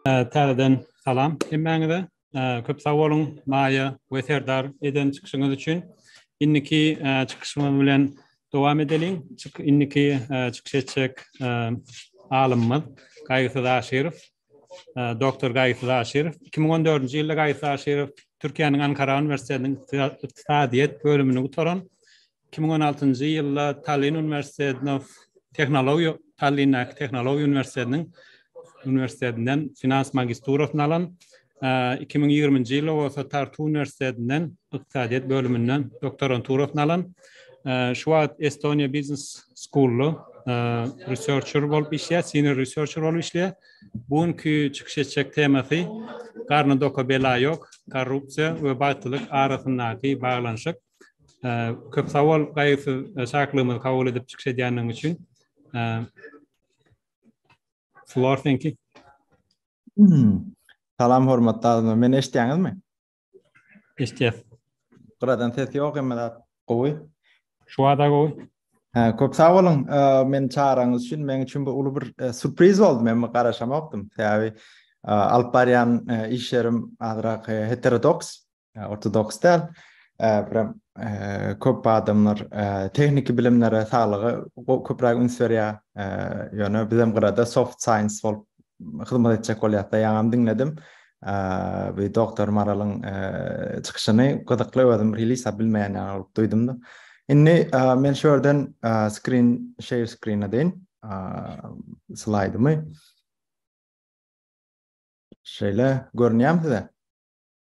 Täzeden salam hemmäňize. Köp sag boluň Maýa we Serdar eden çykyşyňyz üçin. Indiki çykyşymyz bilen dowam edeliň. Indiki çykyş etjek alymymyz Gaýgysyz Aşyrow. Doktor Gaýysyz Aşyrow. Iki müň on dördünji ýylda Gaýysyz Aşyrow Türkiýäniň Ankara uniwersitetiniň ykdysadyýet bölümini gutaran. Iki müň on altynjy ýylda Tallinn uniwersitetine tehnologiýa Tallinndäki tehnologiýa uniwersitetiniň uniwersitetinden finans magisturasyny alan. iki müň ýigriminji ýylda bolsa Tartu uniwersitetinden ykdysadyýet bölüminden doktoranturasyny alan, şu wagt Estonia Business School-da researcher bolup işleýär, senior researcher bolup işleýär. Bu günki çykyş etjek temasy Garny doka bela ýok, korrupsiýa we bagtlylyk arasyndaky baglanyşyk. Köp sag bol, gaýgysyz çakylygymyzy kabul edip çykyş edýändigiň üçin. Floor seňki. Salam hormatly adamlar. Meni eşitýäňizmi? Eşitýäs. Gyradan ses ýok, emma zat gowy. Şu wada gowy. Hä, köp sag boluň. Meni çagyranyňyz üçin meniň üçin bu uly bir e, surpriz boldy. Men bu garaşamakdym. Sebäbi e, alyp barýan e, işlerim azrak heterodoks. Ortodoks däl. Prem köp adamlar tehniki bilimlere, saglyga köpräk üns berýär. Ýöne biz hem gyrada soft science bolup hyzmat etjek bolýarys. Ýaňam diňledim. Bu doktor Maralyň çykyşyny gyzykly özüm release bilmeýän ýaly bolup duýdum-da. Indi men şu ýerden screen share screen edeýin. Slaýdymy. Şeýle görünýärmi size?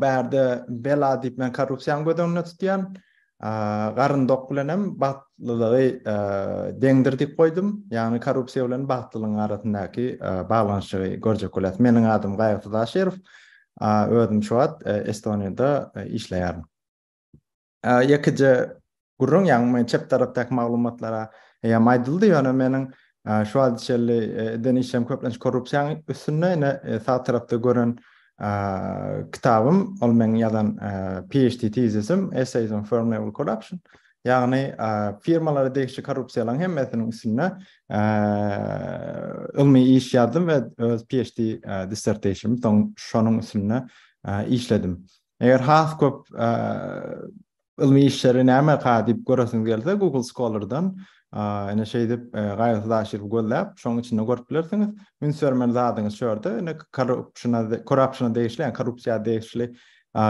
bärde bela diýip men korrupsiýany göz öňünde tutýan. Garyndok bilen hem bagtlylygy deňdir diýip goýdum. Ýagny korrupsiýa bilen bagtlylygyň arasyndaky baglanyşygy görjek bolýas. Meniň adym Gaýgysyz Aşyrow. Özüm şu wagt Estoniýada işleýärin. Ýekeje gürrüň, ýagny men çep tarapdaky maglumatlara eýäm aýdyldy, ýöne meniň şu wagta çenli eden işim köplenç korrupsiýanyň üstünde, ine sag tarapda gören kitabym, ol meň ýazan PHD tezisim, Essays on Firm Level Corruption, ýagny firmalara degişli korrupsiýalaryň hemmesiniň üstünde ylmy iş ýazdym we öz PHD dissertationym şonuň üstünde işledim. Eger has köp ylmy işleri näme ka diýip göresiňiz gelse, Google Scholar'dan ene şeýdip gaýgysyz aşyryp gözläp, şoň içinde görüp bilersiňiz. Üns bermeli zadyňyz şu ýerde, ene korrupsiýa, korrupsiýa degişli, ýa korrupsiýa degişli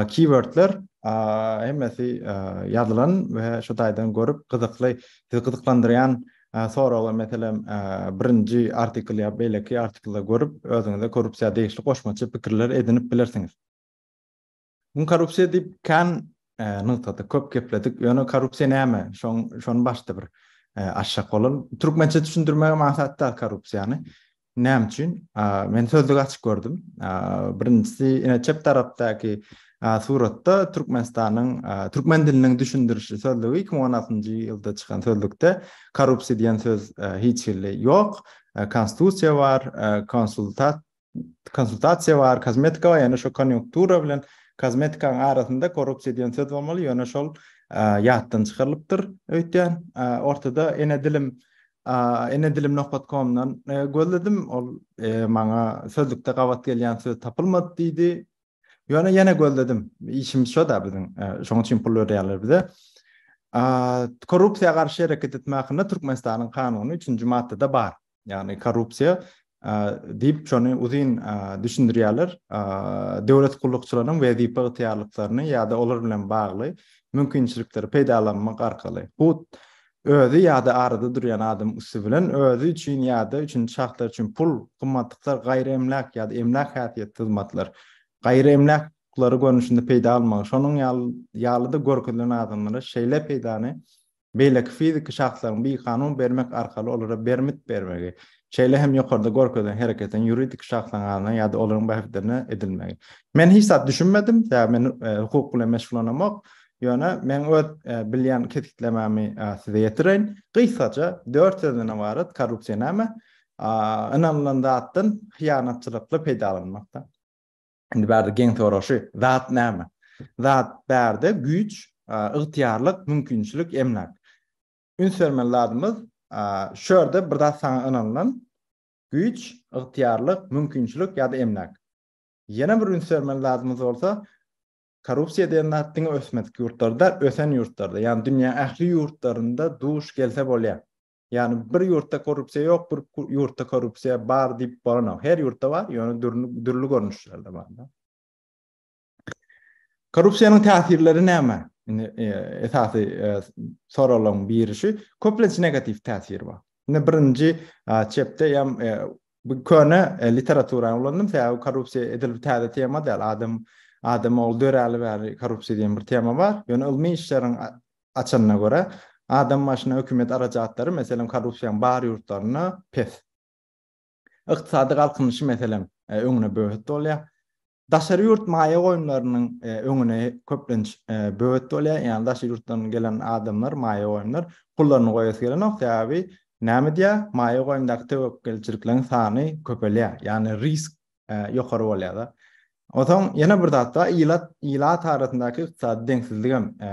keywordler hemmesi ýazylan we şu taýdan görüp gyzykly, sizi gyzyklandyrýan soragy meselem birinji artikl ýa beýleki artiklda görüp, özüňize korrupsiýa degişli goşmaça pikirler edinip bilersiňiz. Muny korrupsiýa diýip kän nygtadyk, köp gepledik. Ýöne korrupsiýa näme? Şoň şony başda bir açjak bolalm. Türkmençe düşündirmegem aňsat däl korrupsiýany. Näme üçin? Men sözlügi açyp gördüm. Birinjisi, ine çep tarapdaky suratda Türkmenistanyň türkmen diliniň düşündirişi sözlügi iki müň on altynjy ýylda çykan sözlükde korrupsiýa diýen söz hiç hili ýok. Konstitusiýa bar, konsultat konsultasiýa bar, kosmetika bar, ýöne şo konýunktura bilen kosmetikanyň arasynda korrupsiýa diýen söz bolmaly, ýöne şol ýatdan çykarylypdyr öýtýän. Ortada ene dilim ene dilim nokat komdan gözledim, ol maňa sözlükde gabat gelýän söz tapylmady diýdi. Ýöne ýene gözledim. Işimiz şo-da biziň. Şonuň üçin pul berýärler bize. Korrupsiýa garşy hereket etmek hakynda Türkmenistanyň kanuny 3-nji maddada bar. ýagny korrupsiýa diýip şony uzyn düşündirýärler. Döwlet gullukçylarynyň wezipe ygtyýarlyklaryny ýa-da olar bilen bagly mümkinçilikleri peýdalanmak arkaly, hut özi ýa-da arada durýan adamyň üsti bilen özi üçin ýa-da üçünji şahslar üçin pul, gymmatlyklar, gaýry emläk ýa-da emläk häsiýetli hyzmatlar, gaýry emläk hukuklary görnüşinde peýda almagy, şonuň ýaly-da görkezilen adamlara şeýle peýdany beýleki fiziki şahslaryň bikanun bermek arkaly olara bermit bermegi, şeýle hem ýokarda görkezilen hereketiň ýuridik şahslaryň adyna ýa-da olaryň bähbitlerine edilmegi. Men hiç zat düşünmedim, sebäbi men hukuk bilen meşgullanamok. Ýöne meň öz bilýän kesgitlemämi size ýetireýin. Gysgaça, dört sözden ybarat korrupsiýa näme? Ynanylan zatdan hyýanatçylykly peýdalanmak-da. Indi bärde geň soraşy, zat näme? Zat bärde güýç, ygtyýarlyk, mümkinçilik, emläk. Üns bermeli zadymyz, şu ýerde bir zat saňa ynanylan, güýç, ygtyýarlyk, mümkinçilik ýa-da emläk. Ýene bir üns bermeli zadymyz bolsa, korrupsiýa diýen zat diňe ösmedik ýurtlarda, ösen ýurtlarda, ýagny dünýäniň ähli ýurtlarynda duş gelse bolýar. Ýagny bir ýurtda korrupsiýa ýok, bir ýurtda korrupsiýa bar diýip bolanok. Her ýurtda bar, ýöne dürli dürli görnüşlerde bar. Korrupsiýanyň täsirleri näme? Indi e, esasy e, soraglaryň biri şu, köplenç negatiw täsir bar. Indi birinji çepde ýam e, bu köne literaturany ulandym, sebäbi korrupsiýa edil täze tema däl, adam adam ol döräli bäri korrupsiýa diýen bir tema bar. Ýöne ylmy işleriň Açanyna görä, adam başyna hökümet arajatlary, meselem, korrupsiýaň bar ýurtlarynda pes. Ykdysady galkynyşy, meselem, öňüne böwet bolýar. Daşary ýurt maýa goýumlarynyň öňüne köplenç böwet bolýar, ýagny daşary ýurtdan gelen adamlar, maýa goýumlar pullaryny goýasy gelenok, sebäbi näme edýär, maýa goýumdaky töwekgelçilikleriň sany köpelýär, ýagny risk e, ýokary bolýar-da. Onsoň ýene bir zat bar, ilat ilat arasyndaky ykdysady deňsizlik hem e,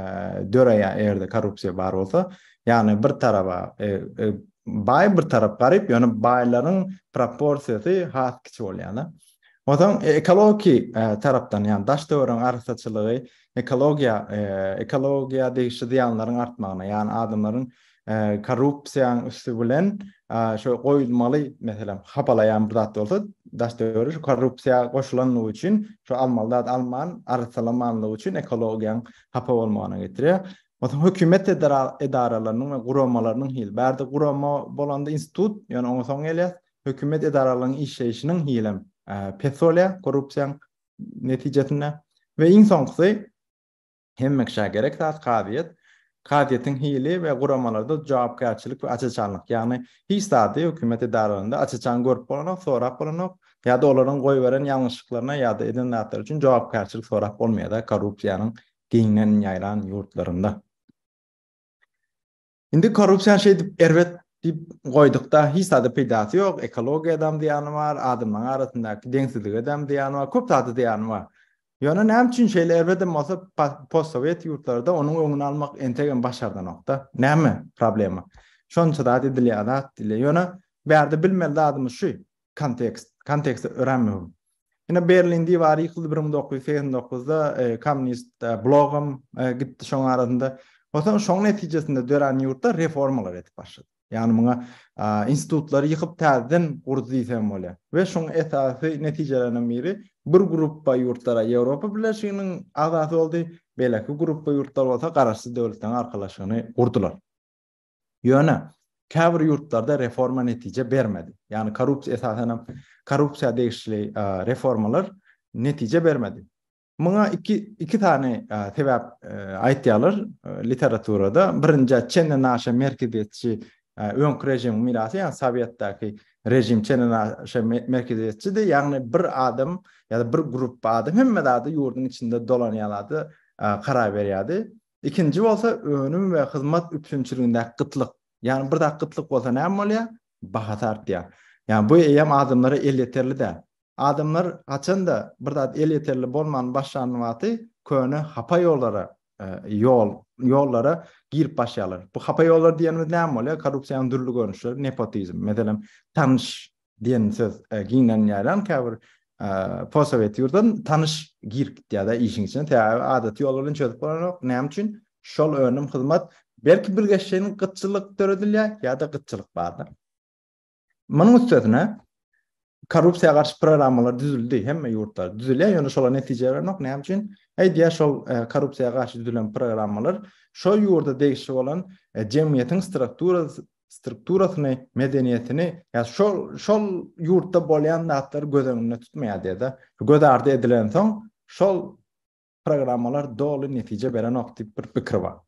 döreýär, eger-de korrupsiýa bar bolsa. Ýagny bir taraba e, e, baý bir tarap garyp, ýöne baýlaryň proporsiýasy has kiçi bolýar-da. Onsoň e, ekologiýa e, tarapdan, ýagny daş döwrüň arassaçylygy ekologiýa e, ekologiýa degişli zyýanlaryň artmagyna, ýagny adamlaryň korrupsiýaň üsti bilen şo goýulmaly meselem hapalaýan bir zat bolsa daş döwür şu korrupsiýa goşulandygy üçin şu almaly zat alman arsalamanlygy üçin ekologiýaň hapa bolmagyna getirýär. Onsoň hökümet edaralarynyň we guramalarynyň hil bärde gurama bolanda institut ýöne oňa soň gelýär. Hökümet edaralarynyň işleýşiniň hilem pes bolýar korrupsiýaň netijesinde we iň soňkusy Hemmeşä gerek zat kazyýet. Kazyýetiň hili we guramalarda jogapkärçilik we açaçanlyk, ýagny hiç zady hökümet edaralarynda açaçan görüp bolanok, sorap bolanok ýa-da olaryň goýberen ýalňyşlyklaryna ýa-da eden zatlary üçin jogapkärçilik sorap bolmaýar-da korrupsiýanyň giňden ýaýran ýurtlarynda. Indi korrupsiýa şeýdip erbet diýip goýdukda, hiç zada peýdasy ýok, ekologiýada hem zyýany bar, adamlaryň arasyndaky deňsizlige hem zyýany bar, köp zada zyýany bar. Ýöne näme üçin şeýle erbet hem bolsa postsowet ýurtlarda onuň öňüni almak entek hem başardanokda? Näme problema? Şonça zat edilýär zat diýilýär. Ýöne bärde bilmeli zadymyz şu, Kontekst. Kontekst örän möhüm. Ine Berlin diwary ýykyldy 1989-da e, kommunist e, blogam e, gitdi şoň arasynda. Onsoň şoň netijesinde dörän ýurtda reformalar edip başlady. Ýagny muňa institutlary ýykyp täzeden gurdy diýsem bolýar. We şoň esasy netijelerinden biri bir gruppa ýurtlara Ýewropa Birleşiginiň agzasy boldy, beýleki gruppa ýurtlar bolsa garaşsyz döwletleriň arkalaşygyny gurdular. Ýöne, käbir ýurtlarda reforma netije bermedi. Ýagny korrupsiýa, esasan hem korrupsiýa degişli reformalar netije bermedi. Muňa iki, iki sany sebäp aýtýarlar literaturada. Birinji, çenden aşa merkeziýetçi öňki režimiň mirasy, ýagny sowetdäki režim çenden aşa merkeziýetçidi, ýagny bir adam ýa-da bir grupba adam hemme zady ýurduň içinde dolanýan zady karar berýärdi. Ikinji bolsa önüm we hyzmat üpjünçiligindäki gytlyk. Ýagny bir zat gytlyk bolsa näme bolýar? Bahasy artýar. Ýagny bu eýýäm adamlara elýeterli däl. Adamlar haçanda bir zat elýeterli bolman başlan wagty köne hapa ýollara ýol ýollara girip başlaýarlar. Bu hapa ýollar diýenimiz näme bolýar? Korrupsiýanyň dürli görnüşleri, nepotizm. Meselem, tanyş Diýen söz giňden ýaýran käbir posowet ýurdan tanyş girip gitýär-de işiň içine. Sebäbi adaty ýol bilen çözüp bolanok. Näme üçin? Şol önüm, hyzmat belki bir geçjegiň gytçylyk döredilýär ýa-da gytçylyk bardyr. Munuň üstesine korrupsiýa garşy programmalar düzüldi, hemme ýurtda düzülýär, ýöne şolar netije berenok. Näme üçin? Eýdýär şol korrupsiýa garşy düzülen programmalar şo ýurda degişli bolan jemgyýetiň strukturasy strukturasyny, medeniýetini, ýa şol şol ýurtda bolýan zatlary göz öňünde tutmaýar diýdi. Göz ardy edilensoň, şol programmalar doly netije berenok diýip bir pikir bar.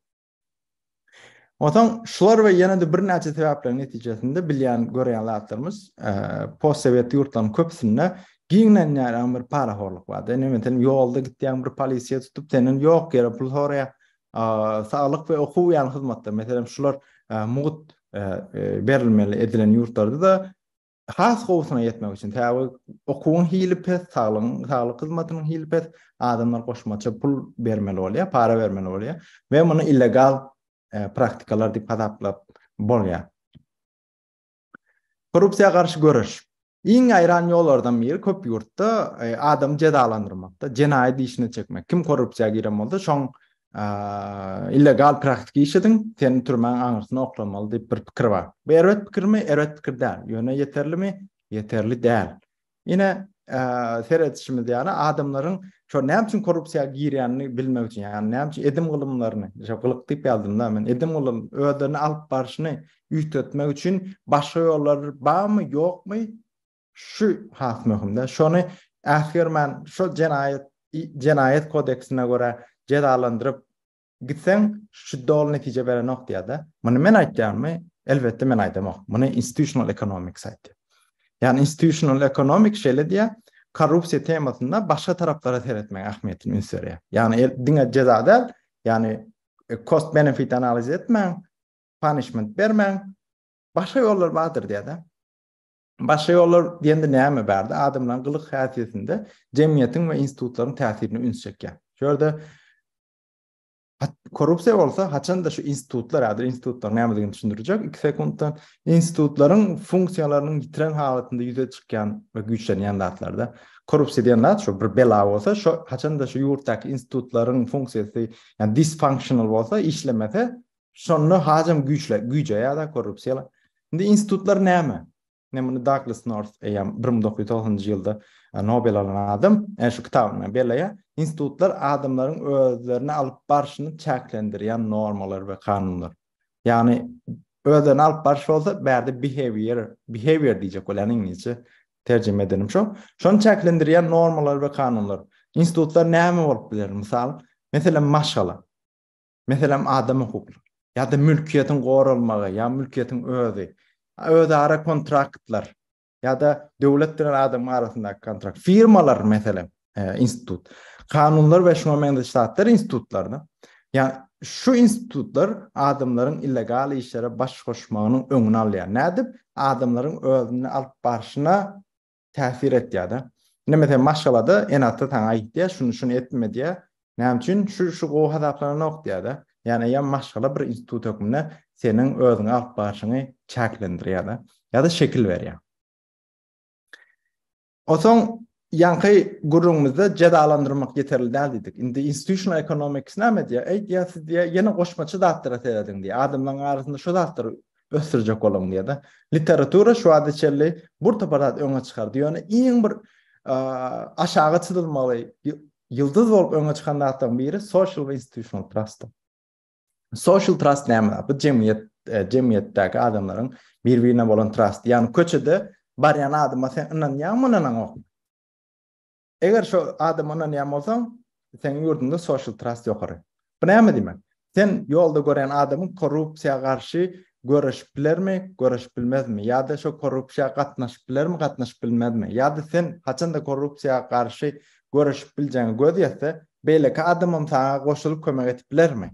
Ondan şular we ýene de birnäçe sebäpleriň netijesinde bilýän görýän zatlarymyz e, postsowet ýurtlaryň köpüsinde giňden ýaýran bir parahorluk bardy. Nämeden ýolda gitýän bir polisiýa tutup senden ýok ýere pul soraýar. saglyk we okuw ýaly hyzmatlar, meselem, şular mugt berilmeli edilen ýurtlarda-da has gowusyna ýetmek üçin, sebäbi okuwyň hili pes, saglygyň, saglyk hyzmatynyň hili pes, adamlar goşmaça pul bermeli bolýar, para bermeli bolýar we muny illegal praktikalar diýip hasaplap bolýar. Korrupsiýa garşy göreş. Iň ýaýran ýollardan biri köp ýurtda e, adamy jezalandyrmakda, jenaýat işine çekmek. Kim korrupsiýa giren bolsa, şoň illegal praktik iş ediň, seni türmäň aňyrsyna oklamaly diýip bir pikir bar. Bu erbet pikirmi? Erbet pikir däl. Ýöne ýeterlimi? Ýeterli däl. Ine, seredişimiz ýaly adamlaryň şo näme üçin korrupsiýa girýänini bilmek üçin, ýagny näme üçin edim gylymlaryny, şo gylyk diýip ýazdymda men, edim gylym özlerini alyp barşyny üýtgetmek üçin başga ýollar barmy, ýokmy? Şu has möhümde, şony äsgermän, şo jenaýat jenaýat kodeksine görä jezalandyryp, Gitseň şu doly netije berenok diýýärde. Muny men aýtýarmy? Elbetde men aýdamok. Muny institutional economics aýtýar. Ýani institutional economics şeýle diýýär, korrupsiýa temasynda başga taraplara seretmegiň ähmiýetini üns berýär. Ýani el, diňe jeza däl, ýani e, cost benefit analiz etmäň, punishment bermäň. Başga ýollar bardyr diýýärde. Başga ýollar diýende näme bardy? Adamlaryň gylyk häsiýetinde jemgyýetiň we institutlaryň täsirini üns çekýär. Şu ýerde Korrupsiýa bolsa haçanda şu institutlar, ýa-da institutlar nämedigini düşündirjek 2 sekuntda, institutlaryň funksiýalarynyň ýitiren halatynda ýüze çykýan we güýçlenýän zatlarda. Korrupsiýa diýen zat şu bir bela bolsa, şu haçanda şu ýurtdaky institutlaryň funksiýasy, ýa dysfunctional bolsa, işlemese, şonda hajam güýçle, güýjeýär-de korrupsiýa. Indi institutlar näme? Men muny Douglas North eýýäm bir müň dokuz ýüz togsanynjy ýylda e, Nobel alan adam e, şu kitabyny belleýär. Institutlar adamlaryň özlerini alyp barşyny çäklendirýän normalar we kanunlar. Ýagny özlerini alyp barş bolsa bärde behavior, behavior diýjek bolýan iňlisçe terjime edenim şo. Şony çäklendirýän normalar we kanunlar. Institutlar näme bolup biler? Mysal, meselem maşgala. Meselem, adam hukuklary ýa-da mülkiýetiň goralmagy ýa mülkiýetiň özi, özara kontraktlar ýa-da döwlet bilen adamyň arasyndaky kontrakt, firmalar, meselem, institut, kanunlar we şuňa meňzeş zatlar institutlaryna, ýa-da şu institutlar adamlaryň illegal işlere baş goşmagynyň öňüni alýar. Nädip? Adamlaryň özüni alyp barşyna täsir etýär-de. Indi meselem maşgalada ene-ata saňa aýtýar, şuny-şuny etme diýýär. Näme üçin? Şu-şu gowy hasaplananok diýýär-de. Ýagny eýýäm maşgala bir institut hökmünde seniň özüňi alyp barşyňy çäklendirýär-de. Ýa-da şekil berýär. Onsoň ýaňky gürrüňimizde jezalandyrmak ýeterli däl diýdik. Indi institutional economics näme diýýär? Eýt ýa siz diýýär, ýene goşmaça zatlara serediň diýýär. Adamlaryň arasynda şu zatlar ösdürjek boluň diýýärdi. Literatura şu wagta çenli bir topar zat öňe çykardy. Ýöne iň bir aşaga çyzylmaly ýyldyz bolup öňe çykan zatlaryň biri social we institutional trust. Social trust näme? Bu jemgyýet e, jemgyýetdäki adamlaryň bir-birine bolan trust. Ýagny köçede barýan adama sen ynanýaňmy, ynanaňok. Eger şo adama ynanýan bolsaň, seniň ýurduňda social trust ýokary. Bu näme diýmek? Sen ýolda gören adamyň korrupsiýa garşy göreşip bilermi, göreşip bilmezmi? Ýa-da şo korrupsiýa gatnaşyp bilermi, gatnaşyp bilmezmi? Ýa-da sen haçanda korrupsiýa garşy göreşip biljegiňe göz ýetse, beýleki adamam saňa goşulyp kömek edip bilermi?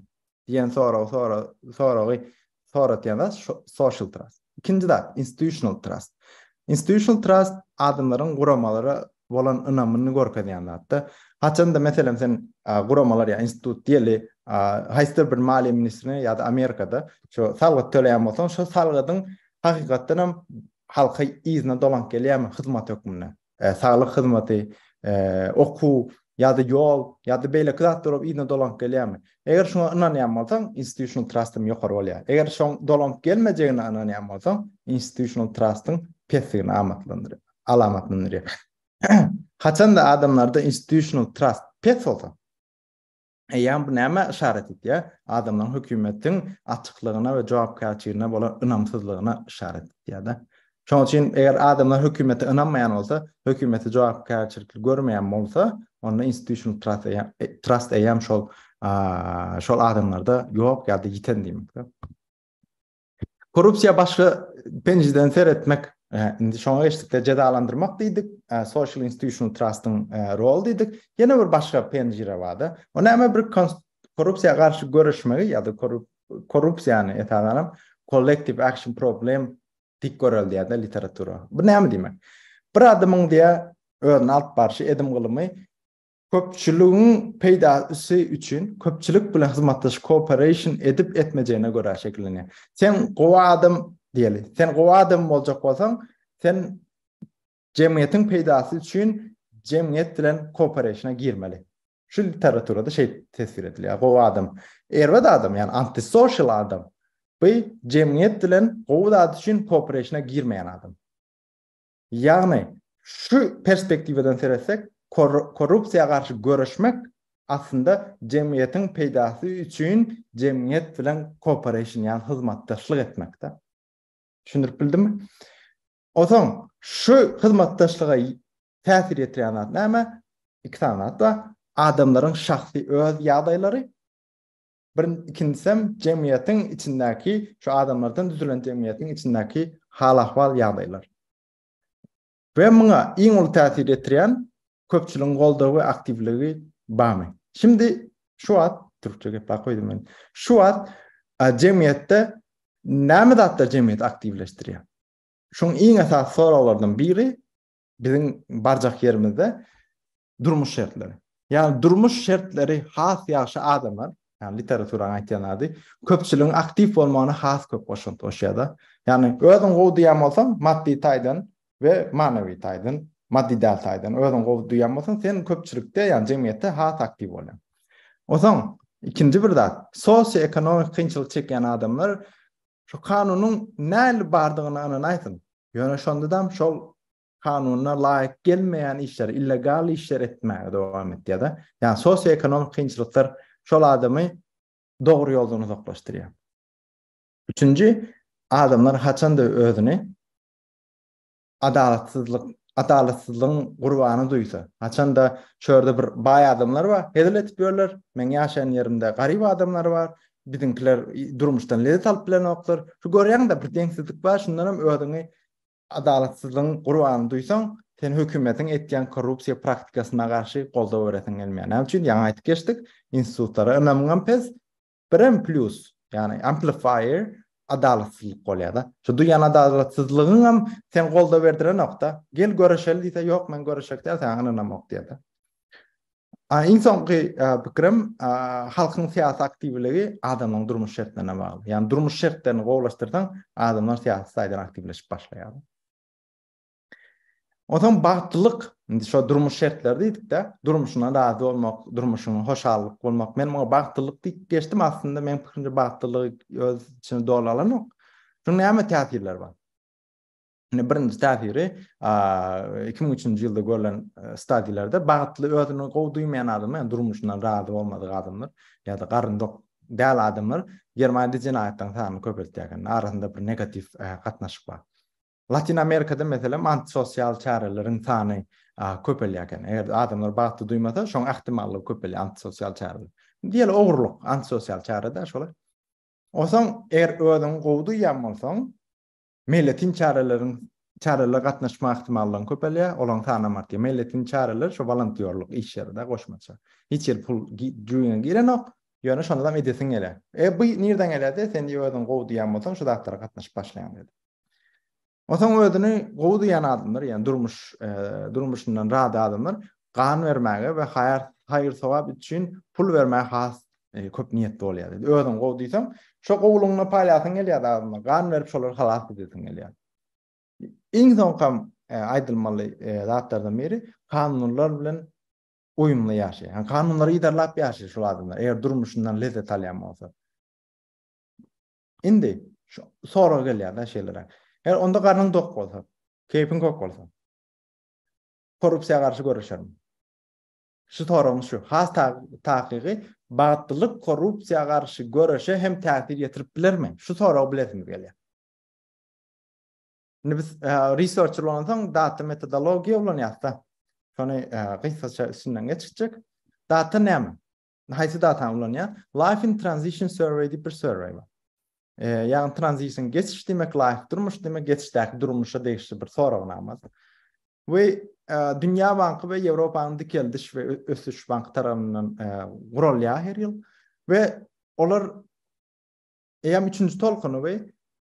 Diýen sorag sora soragy soratýanda social trust. Ikinji zat institutional trust. Institutional trust adamlaryň guramalara bolan ynamyny görkezýän zatda. Haçanda meselem sen guramalar ýa institut diýeli haýsydyr bir maliýe ministrine ýa-da Amerikada şu salgyt töleýän bolsaň, şu salgydyň hakykatdan hem halka yzyna dolanyp gelýärmi hyzmat hökmünde. saglyk hyzmaty, okuw ýa-da ýol ýa-da beýleki zatlar bolup yzyna dolanyp gelýärmi? Eger şuňa ynanýan bolsaň, institutional trust-yň ýokary bolýar. Eger şoň dolanyp gelmejegine ynanýan bolsaň, institutional trust-yň pesdigini amatlandyrýar, alamatlandyrýar. Haçan-da adamlarda institutional trust pes bolsa, Eýýäm bu nämä yşarat edýär? Adamlaryň hökümetiň açyklygyna we jogapkärçiligine bolan ynamsyzlygyna yşarat edýär-de. Şonuň üçin eger adamlar hökümete ynanmaýan bolsa, hökümeti jogapkärçilikli görmeýän bolsa, onda institutional trust eýýäm, trust eýýäm şol, şol adamlarda ýok ýa-da ýiten diýmekdir. Korrupsiýa başga penjiden seretmek, indi şoňa geçdikde jezalandyrmak diýdik, social institutional trustyň rol diýdik. Ýene bir başga penjire bar-da. O näme bir korrupsiýa garşy göreşmegi ýa-da korrupsiýany esasanam kollektiv action problem dik göreldýär-de literatura. Bu näme diýmek? Bir adamyň diýä özüni alyp barşy, edim gylymy Köpçüligiň peýda sy üçin köpçülik bilen hyzmatdaş cooperation edip etmejegine görä şekillenýär. Sen gowy adam diýeli. Sen gowy adam boljak bolsaň, sen jemgyýetiň peýdasy üçin jemgyýet bilen cooperation-a girmeli. Şu literaturada şeýt teswir edilýär. Gowy adam, erbet adam, ýagny antisocial adam. Bu jemgyýet bilen gowy zat üçin cooperation-a girmeýän adam. Ýagny, şu perspektiwadan seretsek, korrupsiýa garşy göreşmek aslynda jemgyýetiň peýdasy üçin jemgyýet bilen kooperation ýagny hyzmatdaşlyk etmekde. Düşündirip bildimmi? Onsoň şu hyzmatdaşlyga täsir ýetirýän zat näme? Iki sany zat bar. Adamlaryň şahsy öz ýagdaýlary Bir ikinjisem jemgyýetiň içindäki şu adamlardan düzülen jemgyýetiň içindäki hal-ahwal ýagdaýlar. We muňa iň uly täsir ýetirýän köpçüligiň goldawy we aktiwligi barmy? Şimdi şu wagt türkçe geplap goýdum men. Şu wagt jemgyýetde näme zatlar jemgyýeti aktiwleşdirýär? Şuň iň esasy soraglardan biri biziň barjak ýerimizde Durmuş şertleri. Ýagny durmuş şertleri has ýagşy adamlar, ýagny literaturaň aýtýan ady, köpçüligiň aktiw bolmagyna has köp goşant goşýar-da. Ýagny özüň gowy duýan bolsaň, maddy taýdan we manawy taýdan, maddy däl taýdan özüň gowy duýan bolsaň, sen köpçülikde, ýagny jemgyýetde has aktiw bolýaň. Onsoň ikinji bir zat, sosioekonomik kynçylyk çekýän adamlar şu kanunyň nähili bardygyna ynanaýsyn. Ýöne şonda-da şol kanuna laýyk gelmeýän işleri, illegal işleri etmäge dowam etýär-de. Ýagny sosioekonomik kynçylyklar şol adamy dogry ýoldan uzaklaşdyrýar. Üçünji, adamlar haçanda özüni adalatsyzlyk adalatsyzlygyň gurbany duýsa, haçanda şu ýerde bir baý adamlar bar, hezil edip ýörler, meň ýaşaýan ýerimde garyp adamlar bar, biziňkiler durmuşdan lezzet alyp bilenoklar. Şu görýäňiz-de bir deňsizlik bar, şundan hem özüňi Adalatsyzlygyň gurbanyny duýsaň, sen hökümetiň etýän korrupsiýa praktikasyna garşy goldaw beresiň gelmeýär. Näme üçin? Ýaňy aýdyp geçdik, institutlara ynamyňam pes. Birem plýus, ýagny amplifier adalatsyzlyk bolýar-da. Şu duýan adalatsyzlygyňam seň goldaw berdirenok-da. Gel görüşeli diýse, ýok men görüşjek däl, saňa ynamok diýer-de. Iň soňky pikirim, halkyň syýasy aktiwligi adamlaryň durmuş şertlerine bagly. Ýagny durmuş şertlerini gowulaşdyrsaň, adamlar syýasy taýdan aktiwleşip başlaýar. Onsoň bagtlylyk, indi şo durmuş şertleri diýdik-de, durmuşyňdan razy bolmak, durmuşyň hoşallyk bolmak. Men muňa bagtlylyk diýip geçdim, aslynda meniň pikirimçe bagtlylygy öz içine doly alanok. Şunuň näme täsirleri bar? Ine birinji täsiri 2003-nji ýylda görlen stadiýlerde bagtly özüni gowy duýmaýan adamlar, ýa durmuşyndan razy bolmadyk adamlar, ýa-da garyndak däl adamlar Germaniýada jenaýatlaryň sanyny köpeltýär eken. Arasynda bir negatiw gatnaşyk bar. Latin Amerikada meselem antisosial çäreleriň sany köpelýär eken. Eger adamlar bagtly duýmasa, şoň ähtimallygy köpelýär antisosial çäreler. Diýeli ogurlyk antisosial çäre-dä şolar. Osaň eger özüňi gowy duýýan bolsaň, Meýletin çäreleriň çärelere gatnaşma ähtimallygyň köpelýär, olaryň sanam artýar. Meýletin çäreler şu wolontýorlyk işleri-de goşmaça. Hiç ýeri pul jüýňe girenok, ýöne şondanam edesiň gelýär. E bu nirden gelýärdi? Sen diýip özüň gowy duýýan bolsaň, şu zatlara gatnaşyp başlaýaň diýdi. Onsoň özüni gowy duýýan adamlar, ýagny durmuş durmuşyndan razy adamlar gan bermäge we haýyr-sogap üçin pul bermäge has köp niýetli bolýar diýdi. Özüň gowy diýseň, şo gowulygyňy paýlasyň gelýär adamlar, gan berip şolary halas edesiň gelýär. Iň soňkam aýdylmaly zatlardan biri kanunlar bilen uýumly ýaşaýar. Ýani kanunlary yzarlap ýaşaýar şol adamlar, eger durmuşyndan lezzet alýan bolsa. Indi şu sorag gelýär-de şeýleräk. Eger onda garnyň dok bolsa, keýpiň kök bolsa. korrupsiýa garşy göreşerin. Şu soragyň şu has takygy bagtlylyk korrupsiýa garşy göreşe hem täsir ýetirip bilermi? Şu soragy bilesiňiz gelýär. Indi biz e, researcher bolansoň data metodologiýa ulanýarys da. Şony e, gysgaça üstünden geçjek. Data näme? haýsy datany ulanýar? Life in Transition Survey diýip bir survey bar. E, ýagny transition geçiş diýmek, life durmuş diýmek, geçişdäki durmuşa degişli bir soragnama. We e, Dünýä banky we Ýewropanyň dikeldiş we ösüş banky tarapyndan e, guralýar her ýyl we olar eýam üçünji tolkuny we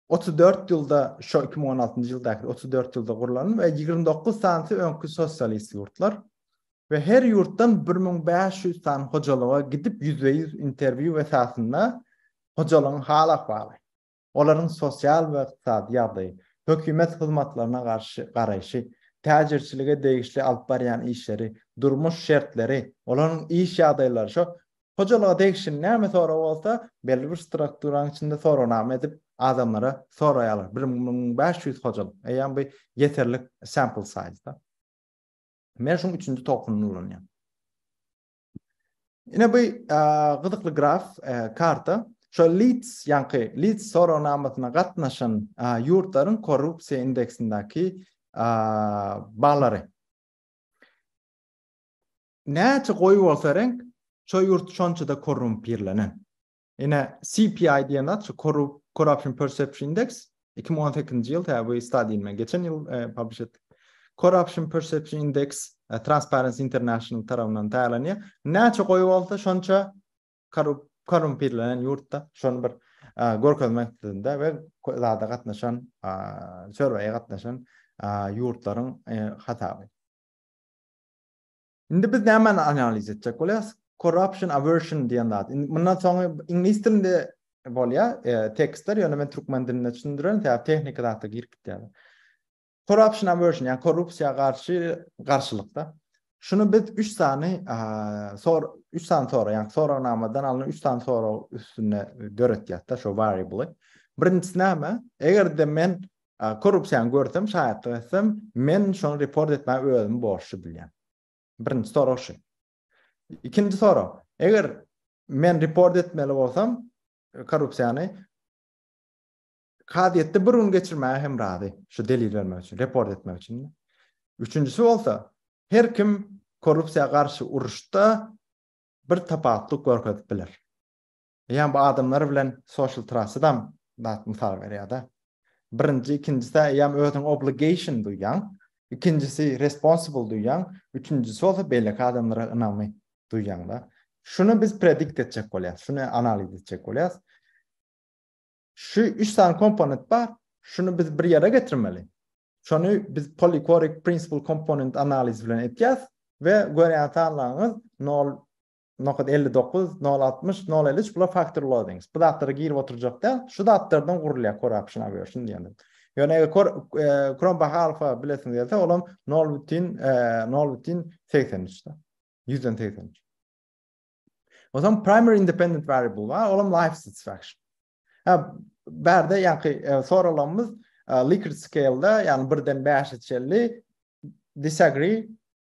Otuz dört ýylda, şo iki müň on altynjy ýyldaky otuz dört ýylda gurlan we ýigrimi dokuz sanysy öňki sosialist ýurtlar we her ýurtdan bir müň bäş ýüz sany hojalyga gidip ýüzbe-ýüz interwýu esasynda hojalygyň hal-ahwaly, olaryň sosial we ykdysady ýagdaýy, hökümet hyzmatlaryna garşy garaýşy, täjirçilige degişli alyp barýan işleri, durmuş şertleri, olaryň iş ýagdaýlary, şo Hojalyga degişli näme sorag bolsa, belli bir strukturanyň içinde soragnama edip, adamlara soraýarlar. Bir müň bäş ýüz hojalyk. Eýýäm bu ýeterlik sample size-da. Men şuň üçünji tokuny ulanýan. Ine bu gyzykly graf, karta. Şol Leeds ýaňky Leeds soragnamasyna gatnaşan ýurtlaryň korrupsiýa indeksindäki ballary. Näçe goýy bolsa reňk, şo ýurt şonça-da korrumpirlenen. Ine, CPI diýen zat şu Corruption Perception Index, iki müň on sekizinji ýyl, tä bu stadiýany men geçen ýyl publish etdik. Corruption Perception Index Transparency International tarapyndan taýýarlanýar. Näçe goýy bolsa şonça korrumpirlenen ýurtda şony bir görkezmek isledimde we zada gatnaşan, survey-e gatnaşan ýurtlaryň hasaby. Indi biz nämäni analiz etjek bolýas? Corruption aversion diýen zat. Indi mundan soňy iňlis dilinde bolýar, e, tekstler, ýöne men türkmen dilinde düşündirerin, sebäbi tehniki zatda girip gitýär. Corruption aversion, ýa korrupsiýa garşy garşylykda. Şuny biz 3 sany sor 3 sany sorag, ýa soragnamadan alnan 3 sany sorag üstünde döretýäs-de şu variable. Birinjisi näme? Eger-de men Korrupsiýany görsem, şaýatlyk etsem, men şony report etmäge özümi borçly bilýän. Birinji sorag şu. Ikinji sorag, eger men report etmeli bolsam korrupsiýany kazyýetde bir gün geçirmäge hem razy, şu delil bermek üçin, report etmek üçin. Üçünjisi bolsa, her kim korrupsiýa garşy uruşda bir tapawutlyk görkezip biler. Eýýäm bu adamlar bilen social trust-dam zat mysal berýär-de. Birinji, ikinjisi-ä eýýäm özüňi obligation duýýaň, ikinjisi responsible duýýaň, üçünjisi bolsa beýleki adamlara ynamy duýýaň-da. Şuny biz predikt etjek bolýarys, şuny analiz etjek bolýarys. Şu üç sany komponent bar, şuny biz bir ýere getirmeli. Şony biz polychoric principal component analizi bilen etýäris we görýän sanlaryňyz nol nokat elli dokuz nol altmyş nol elli üç bular faktor loadings bu zatlara girip oturjak däl şu zatlardan gurulýar core option aversion diýende ýöne eger core e, chrome baha alfa bilesin gelse olam nol bütin e, nol bütin segsen üçde ýüzden segsen üç ozan primary independent variable bar olam life satisfaction ha bärde ýaňky e, soralanymyz likert scale-da ýagny birden bäşe çenli disagree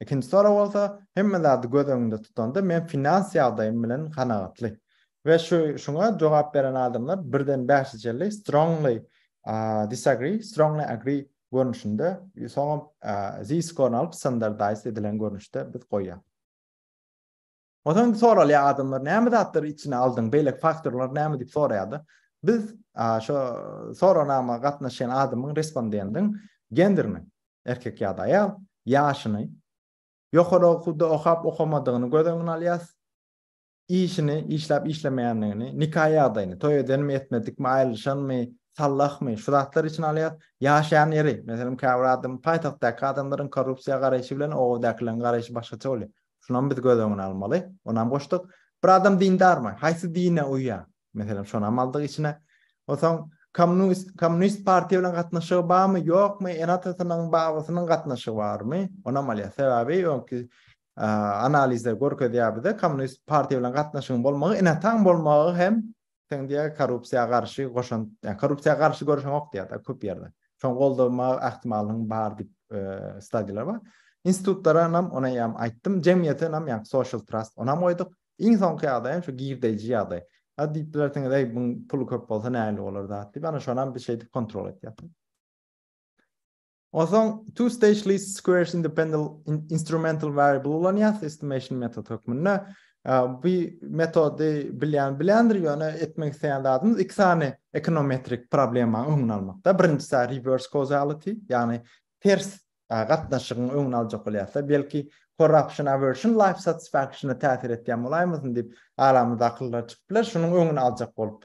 Ikinji sorag bolsa, hemme zady göz öňünde tutanda men finans ýagdaýym bilen kanagatly. We şu şuňa jogap beren adamlar birden bäşijelli strongly disagree, strongly agree görnüşinde soňam Z-skorny alyp standardized edilen görnüşde biz goýýas. Onsoň indi soralýar adamlar, näme zatlary içine aldyň, beýleki faktorlar näme diýip soraýar-da. Biz şo sorawnama gatnaşýan adamyň respondendiň genderini, erkek ýa-da aýal, ýaşyny, ýokary okuwda okap-okamadygyny göz öňüne alýarys, işini, işläp-işlemeýändigini, nika ýagdaýyny, toý edenmi, etmedikmi, aýrylyşanmy, sallahmy, şu zatlary içine alýarys. Ýaşaýan ýeri, meselem, käbir adam, paýtagtdaky adamlaryň korrupsiýa garaýşy bilen obadakylaryň garaýşy başgaça bolýar. Şunam biz göz öňüne almaly. Onam goşduk. Bir adam dindarmy? Haýsy dine uýýar? Meselem, şonam aldyk içine. Onsoň kommunist kommunist partiýa bilen gatnaşygy barmy, ýokmy? Ene-atasynyň, babasynyň gatnaşygy barmy? Onam alýar. Sebäbi öňki analizler görkezýär bize, kommunist partiýa bilen gatnaşygyň bolmagy ene-ataň bolmagy hem Sen diýä korrupsiýa garşy goşant, ýa korrupsiýa garşy görüşeňok diýä da köp ýerde. Şoň goldama ähtimallygyň bar diýip e, stadiýalar bar. Institutlara nam ona ýam aýtdym. Jemgyýete nam ýa social trust ona goýduk. Iň soňky ýagdaý hem şu girdeýji ýagdaý. Ha diýip bilersiňiz, eý, bu puly köp bolsa näli bolar zat diýip, ana şonam bir şeýdip kontrol etýär. Onsoň two stage least squares independent instrumental variable ulanýas estimation metod hökmünde. Bu metody bilýän bilýändir, ýöne etmek isleýän zadymyz iki sany ekonometrik problema öňüni almakda. Birinjisi reverse causality, ýagny ters gatnaşygyň öňüni aljak bolýas. Belki corruption aversion life satisfaction täsir etýän bolaýmasyn diýip aramyzda akyllar çykyp biler. Şunuň öňüni aljak bolup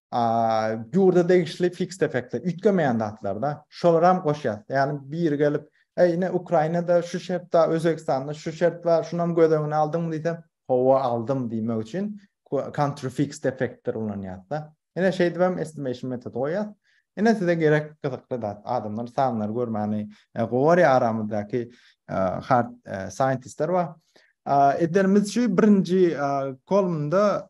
ýurda degişli fiks effektler, üýtgemeýän zatlarda, şolar hem goşýar. Ýagny biri gelip, "Eý, ine Ukrainada şu şert bar, Özbegistanda şu şert bar, şuny hem göz öňüne aldyňmy?" diýse, "Hawa, aldym" diýmek üçin country fixed effektler ulanýar-da. Ine şeýdip hem estimation metody goýýar. Ine size gerek gyzykly zat, adamlar sanlary görmäni gowy görýär, aramyzdaky hard scientistler bar. Edenimiz şu birinji kolumnda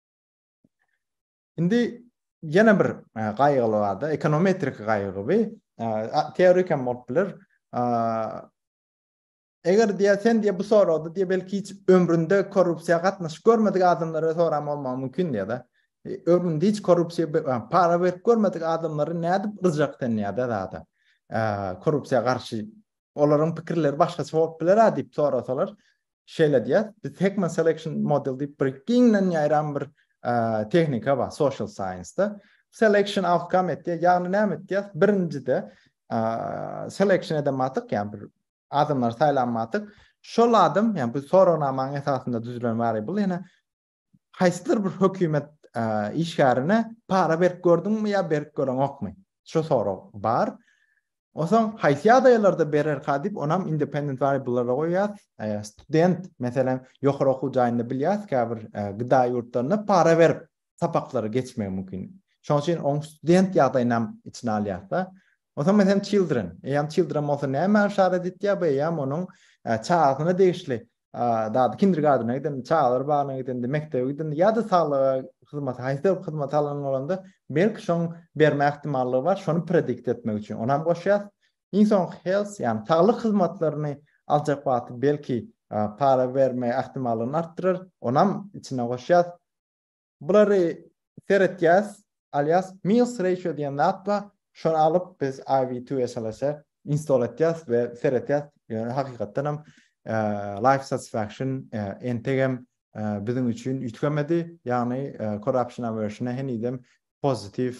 Indi ýene bir e, gaýgyly barda, ekonometrik gaýgy we e, teorik hem bolup biler. E, eger diýä sen diýä bu soragda diýä belki hiç ömründe korrupsiýa gatnaşyk görmedik adamlara soram bolmagy mümkin diýä da. Ömründe hiç korrupsiýa para berip görmedik adamlary nädip rjak sen diýä da zada. Korrupsiýa garşy olaryň pikirleri başgaça bolup biler diýip sorasalar, şeýle diýýär, biz Heckman Selection Model diýip bir giňden ýaýran bir tehnika bar social science-da. Selection outcome etdi. Ýagny näme etdi? Birinjide selection eden matyk, ýagny bir adamlar saýlan matyk, şol adam, ýagny bu soragnamaň esasynda düzülen wary bu ýene haýsydyr bir hökümet işgärine para berip gördüňmi ýa berip göreňokmy? Şu sorag bar. Onsoň haýsy ýagdaýlarda bererka diýip, onam independent variablelara goýýar. Student, meselem, ýokary okuw jaýynda bilýär, käbir GDA ýurtlarynda para berip sapaklary geçmek mümkin. Şonuň üçin oň student ýagdaýyny hem içine alýar-da. Onsoň meselem children, eýýäm children bolsa näme işaret etýär? Bu eýýäm onuň çagasyna degişli Dady kindergartene giden, çagalar bagyna giden, mekdebe giden ýa-da saglyga hyzmat, haýsy hyzmat alan bolanda, belki şoň berme ähtimallygy bar, şony predikt etmek üçin. Onam goşýas. Iň soň health, ýagny saglyk hyzmatlaryny aljak wagty belki para berme ähtimallygyny artdyrar. Onam içine goşýas. Bulary seretýäs, alýas, Meals Ratio diýen zat bar, şony alyp biz IVTSLS-e install etýäs we seretýäs. Ýöne hakykatdan hem Life Satisfaction entegem biziň üçin üýtgemedi, ýagny Corruption Aversion-a henizem pozitiw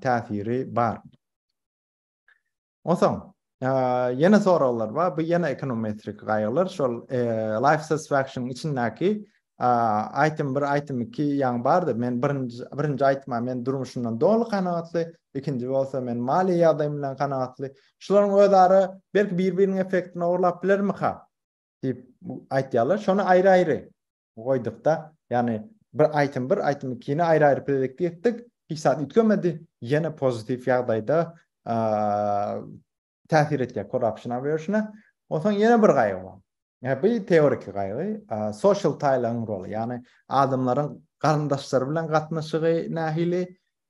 täsiri bar. Onsoň, ýene soraglar bar. Bu ýene ekonometrik gaýgylar. Şol life satisfaction içindäki aýtym bir, aýtym iki ýaňy bardy. Men birinji, birinji aýtma men durmuşymdan doly kanagatly, ikinji bolsa men maliýe ýagdaýym bilen kanagatly. Şularyň özara belki bir-biriniň effektini ogurlap bilermika? diýip aýtýarlar. Şony aýry-aýry goýdukda, ýagny bir aýtym bir, aýtym ikini aýry-aýry plelekde etdik, hiç zat üýtgemedi, ýene pozitiw ýagdaýda täsir etýär corruption aversion-a. Onsoň ýene bir gaýgy bar. Ýa bu teoriki gaýgy, social tie-laryň roly, ýagny adamlaryň garyndaşlary bilen gatnaşygy nähili,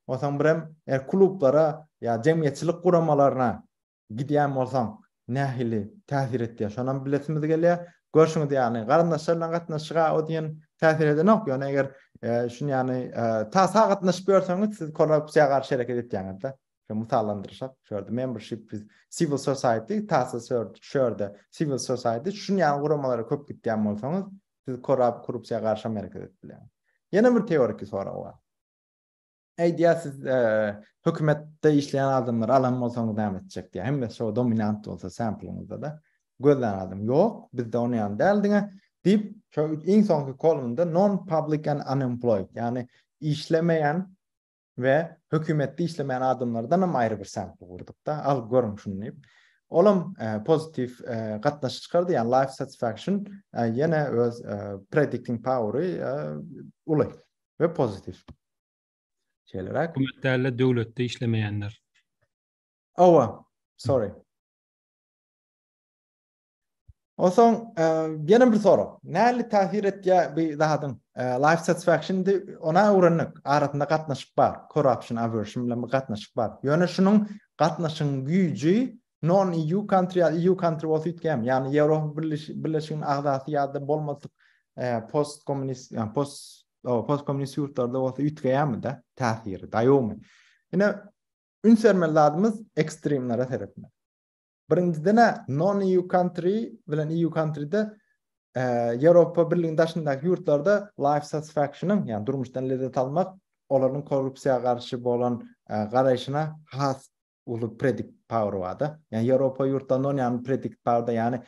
onsoň birem klublara ýa jemgyýetçilik guramalaryna Gidýän bolsaň, nähili täsir etýär, şonam bilesimiz gelýär. Görşüňiz ýaly, garyndaşlar bilen gatnaşyga o diýen täsir edenok, ýöne eger şuny ýaly ta-ta gatnaşyp ýörseňiz, siz korrupsiýa garşy hereket etýäňiz-de. Şo mysallandyryşak, şu ýerde membership with civil society, ta-ta şu ýerde civil society, şuny ýaly guramalara köp gitýän bolsaňyz, siz korrupsiýa garşy hem hereket edip bilýäňiz. Ýene bir teoriki sorag bar. Aýdýar siz hökümetde işleýän adamlar alan bolsaňyz näme etjek diýär. Hemme şo dominant bolsa samplingizde de gözlän adam ýok. Bizde ony ýan däl diňe diýip şo iň soňky kolumda non public and unemployed ýani işlemeýän we hökümetde işlemeýän adamlardan hem aýry bir sampl gurdyk da al görüň şuny diýip. Olam e, pozitif e, gatnaşyk çykardy ýani life satisfaction e, ýene öz e, predicting powery e, uly we pozitif. Şeýleräk. Hökümet däl-de döwletde işlemeýänler. Owa, sorry. Onsoň ýene bir sorag. Näli täsir etýär bu zadyň? Life satisfaction di ona öwrendik. Arasynda gatnaşyk bar. Corruption aversion bilen bir gatnaşyk bar. Ýöne şunuň gatnaşygyň güýji Non EU country ýa EU country bolsa üýtgämi? Ýagny Ýewropa Birleşiginiň agzasy ýa-da bolmadyk post kommunist ýa post post kommunist ýurtlarda bolsa üýtgämi-de täsiri daýawmy? Ine üns bermeli zadymyz ekstremlere seretmek. Birinjiden-ä non EU country bilen EU country-de Ýewropa Birliginiň daşyndaky ýurtlarda life satisfaction-yň, ýagny durmuşdan lezzet almak, olaryň korrupsiýa garşy bolan garaýşyna has uly predict power barda. Yani Europa yurtlarynda on yani predict powerda yani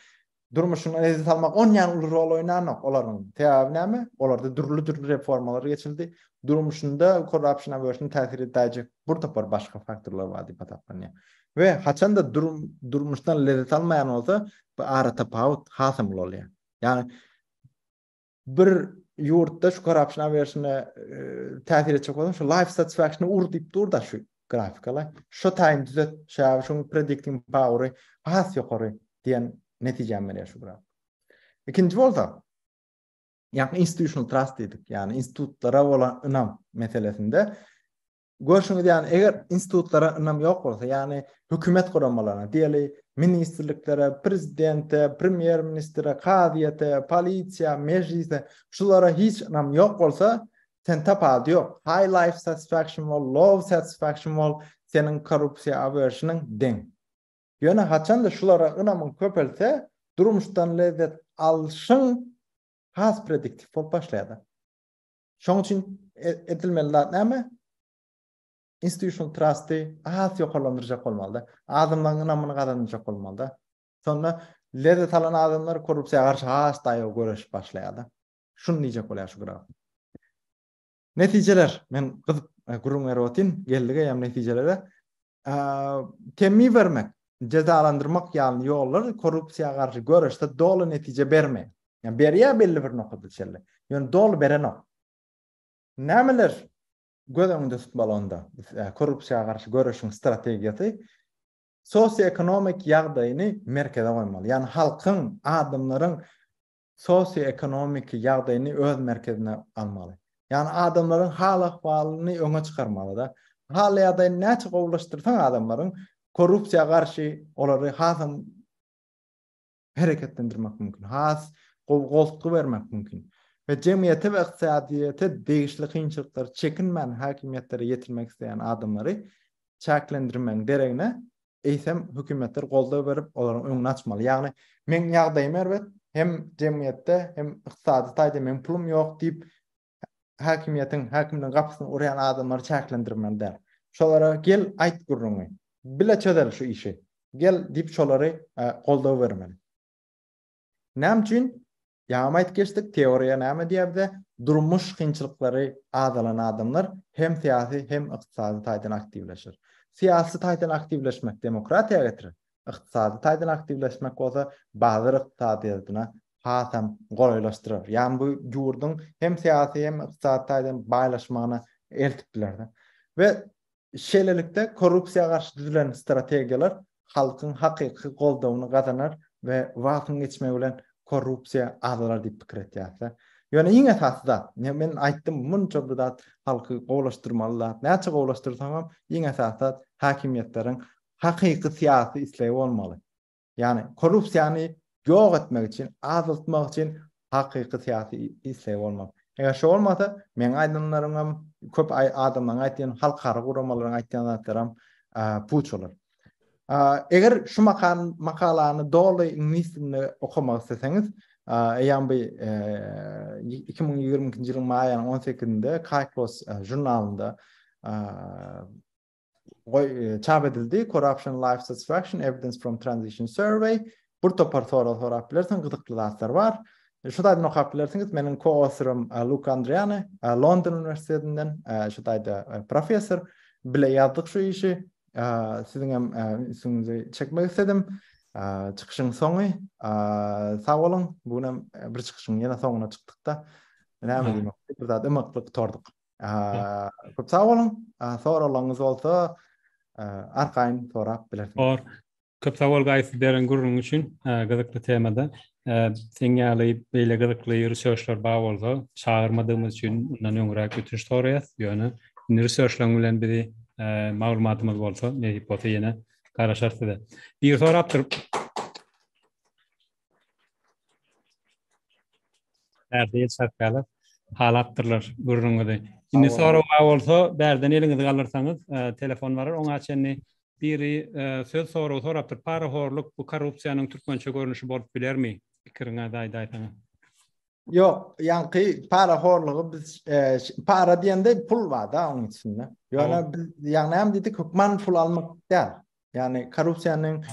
durmuşyňdan ezi salmak on yani uly rol oynanok olaryň. Sebäbi näme? Olarda dürli dürli reformalar geçildi. Durmuşynda corruption aversion täsir edäýjek bir topar başga faktorlar bar diýip hasaplanýar. We haçan da durum durmuşdan lezzet almaýan bolsa, bu ara tapawut hasam ulalýar. Yani bir ýurtda şu korrupsiýa berişine täsir etjek bolsa, şu life satisfaction ur diýip durda şu grafikala. Şu taýyn düzet, şäw şu predicting power-y has ýokary diýen netijä menýär şu grafik. Ikinji bolsa, ýa institutional trust diýdik, ýa institutlara bolan ynam meselesinde Görşüňiz ýaly, eger institutlara ynam ýok bolsa, ýagny hökümet guramalaryna, diýeli, ministrliklere, prezidente, premýer ministre, kazyýete, polisiýa, mejlise, şulara hiç ynam ýok bolsa, sen tapady ýok. High life satisfaction wall, low satisfaction wall seniň korrupsiýa averşiniň deň. Ýöne haçanda şulara ynamyň köpelse, durmuşdan lezzet alşyň has prediktiw bolup başlaýar. Şoň üçin e, edilmeli zat näme? Institutional trusty az ýokarlandyrjak bolmalyda. Adamlaryň ynamyny gazanjak bolmalyda. Sonda lezzet alan adamlar korrupsiýa garşy has daýaw göreşip başlaýarlar. Şuny diýjek bolýar şu graf. Netijeler, men gyzyp e, gürrüň berip otyryn, geldik eýem netijelere. temmi bermek, jezalandyrmak ýaly ýollar korrupsiýa garşy göreşde doly netije bermeýär. Ýa berýär belli bir nokada çenli. Ýöne doly berenok. Nämeler göz öňünde tutmaly onda? Korrupsiýa garşy göreşiň strategiýasy sosioekonomik ýagdaýyny merkeze goýmaly. Ýani halkyň, adamlaryň sosioekonomiki ýagdaýyny öz merkezine almaly. Ýagny adamlaryň hal-ahwalyny öňe çykarmaly-da. Hal-ýagdaýyny näçe gowulaşdyrsaň adamlaryň, korrupsiýa garşy olary hasam hereketlendirmek mümkin, has gowy goltgy bermek mümkin we jemgyýete we ykdysadyýete degişli kynçylyklary çekinmän häkimiýetlere ýetirmek isleýän adamlary çäklendirmegiň deregine eýsem hökümetler goldaw berip, olaryň öňüni açmaly. Ýagny, meň ýagdaýym erbet, hem jemgyýetde, hem ykdysady taýdan meň pulum ýok diýip, häkimiýetiň, häkimligiň gapysyny urýan adamlary çäklendirmeli däl. Şolara gel, aýt gürrüňi. Bile çözeli şu işi. Gel diýip, şolary goldaw bermeli. Näme üçin? Ýagamait geçsek teoriýa näme diýýär bize? Durmuş kynçylyklary azalan adamlar hem syýasy hem ykdysady taýdan aktiwleşer. Syýasy taýdan aktiwleşmek demokratiýa getirer, ykdysady taýdan aktiwleşmek bolsa bazar ykdysadyýadyna hasam golaýlaşdyrar. Ýagny bu ýurduň hem syýasy hem ykdysady taýdan baýlaşmagyna eltip biler. We Şeýlelikde, korrupsiýa garşy düzülen strategiýalar halkyň hakyky goldawyny gazanar we wagtyň geçmegi bilen korrupsiýa azalar diýip pikir etýäris-dä. Ýöne iň esasy zat, men aýtdym, munça bir zat halky gowulaşdyrmaly zat, näçe gowulaşdyrsaňam, iň esasy zat häkimiýetleriň hakyky syýasy islegi bolmaly. Ýagny korrupsiýany ýok etmek üçin, azaltmak üçin hakyky syýasy isleg bolmaly. Eger şo bolmasa, meň aýdanlarym hem, köp adamlaryň aýtýan, halkara guramalaryň aýtýan zatlary hem puç bolar. Eger şu makalany doly iňlis dilinde okamak isleseňiz, eýýäm bu 2022-nji ýylyň maý aýynyň on sekizinde Kyklos žurnalynda goý çap edildi corruption life satisfaction evidence from transition survey bir topar sorag sorap bilersiň gyzykly zatlar bar şu taýdan okap bilersiňiz meniň koautorym e, Luka Andriani e, London uniwersitetinden e, şu taýda professor bile ýazdyk şu işi siziň hem üstüňizi çekmek istedim çykyşyň soňy sag boluň bu gün hem bir çykyşyň ýene soňuna çykdykda näme diýmek bir zat ymyklyk torduk Köp sag boluň. Soraglaryňyz bolsa, arkaýyn sorap bilersiňiz. Bor. Köp sag bol Gaýyp beren gürrüňiň üçin gyzykly temada. Seň ýaly beýle gyzykly researchlar bar bolsa, çagyrmadygymyz üçin mundan öňräk ötünç soraýas. Ýöne indi researchlaryň bilen bizi maglumatymyz bolsa, nesip bolsa ýene garaşarys size. Biri sorapdyr. Bärde el çarpýarlar. Halapdyrlar gürrüňizi. Indi Sag sorag bar bolsa, bärden eliňizi galdyrsaňyz, e, telefon barar. Oňa çenli biri e, söz soragy sorapdyr. Parahorluk bu korrupsiýanyň türkmençe görnüşi bolup bilermi? Pikiriňizi aýdaýsaňyz. Ýok, ýaňky para horlugy biz e, ş- para diýende pul bar da onuň içinde. Ýöne biz ýagny hem diýdik hökman pul almak däl. Yani korrupsiýanyň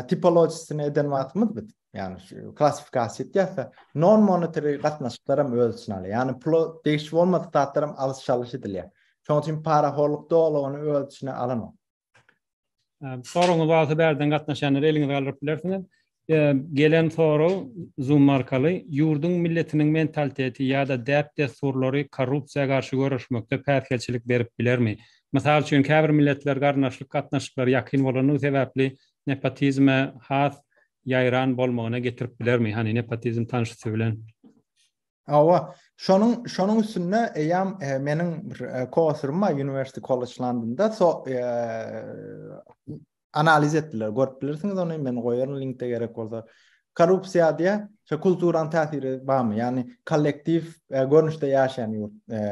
tipologiyasini eden wagtymyz biz. Yani şu klassifikasiýa etýärse, non monetary gatnaşyklar hem öz içine alýar. Yani pula degişli bolmadyk zatlar hem alyş çalyş edilýär. Şonuň üçin parahorluk dolugyny öz içine alanok. Soragyňyz bolsa bärden gatnaşýanlara eliňizi galdyryp bilersiňiz. Gelen sorag Zoom arkaly, Ýurduň milletiniň mentaliteti ýa-da däp-dessurlary korrupsiýa garşy göreşmekde päsgelçilik berip bilermi? Mysal üçin, käbir milletler garyndaşlyk gatnaşyklary ýakyn bolandygy sebäpli nepotizme has ýaýran bolmagyna getirip bilermi? Hany, nepotizm tanşysy bilen. Hawa, şonuň şonuň üstünde eýýäm meniň bir kosurum bar, University College Londonda, so, analiz etdiler. Görüp bilersiňiz ony, men goýaryn linkde gerek bolsa. Korrupsiýa diýä, şu kulturanyň täsiri barmy? Ýagny kollektiw e, görnüşde ýaşaýan ýurt e,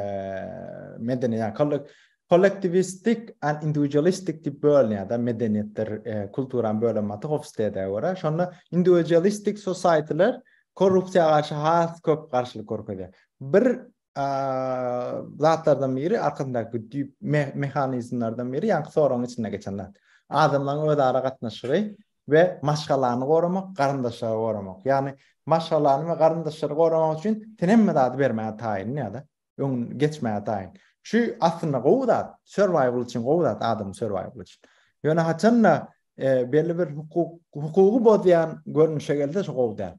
medeni, ýagny kollek, kollektiwistik and individualistik diýip bölünýär da medeniýetler, e, kulturan bölünmesi Hofstede görä. Şonda individualistik societyler korrupsiýa garşy has köp garşylyk görkezýär. Bir zatlardan biri arkasyndaky düýp mehanizmlerden biri ýa-da soragyň içinde geçen zat. Adamlaryň öz ara gatnaşygy we maşgalany goramak, garyndaşlary goramak. Ýagny maşgalany we garyndaşlary goramak üçin sen hemme zady bermäge taýyn ýa-da öň geçmäge taýyn. Şu aslynda gowy zat, survival üçin gowy zat, adam survival üçin. Ýöne haçanda e, belli bir hukuk hukugy bozýan görnüşe gelse şu gowy däl.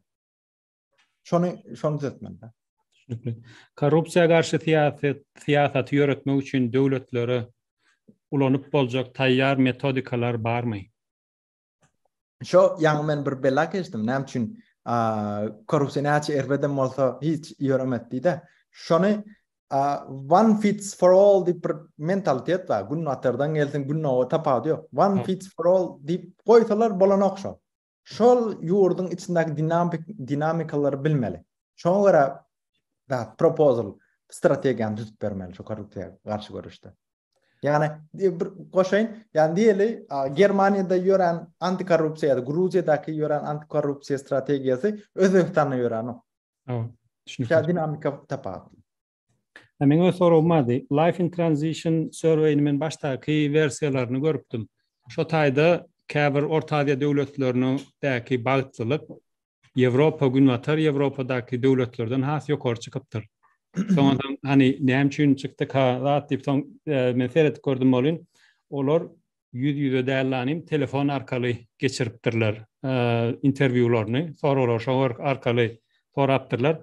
Şony şony düzeltmeli. Düşünikli. Korrupsiýa garşy syýasat syýasaty ýöretmek üçin döwletlere ulanyp boljak taýýar metodikalar barmy? Şo ýaňy men bir bela geçdim. Näme üçin korrupsiýa näçe erbedem bolsa hiç ýöremez diýdi. Şony one fits for all diýip bir mentalitet bar. Gün atardan gelsin, gün owa tapawudy ýok. One fits for all diýip goýsalar bolanok şo. şol ýurduň içindäki dinamik dinamikalary bilmeli. Şoňa görä da proposal strategiýany düzüp bermeli şu korrupsiýa garşy görüşde. Ýani e, bir goşaýyn, ýani diýeli, Germaniýada ýören antikorrupsiýa, Gruziýadaky ýören antikorrupsiýa strategiýasy Özbegistanda ýörenok. Hawa, düşünip. Şä dinamika tapawutly. Hä meň öz soragym bardy. Life in transition survey-ni men başdaky wersiýalaryny görüpdim. Şo taýda käbir Orta Aziýa döwletleriniň däki bagtlylyk Ýewropa, Günbatar Ýewropadaky döwletlerden has ýokary çykypdyr. Soňadan hany näme üçin çykdyka zat diýip soň men seredip gördüm welin olar Ýüz ýüze däl la inim telefon arkaly geçiripdirler interwýularyny soraglar şo arkaly sorapdyrlar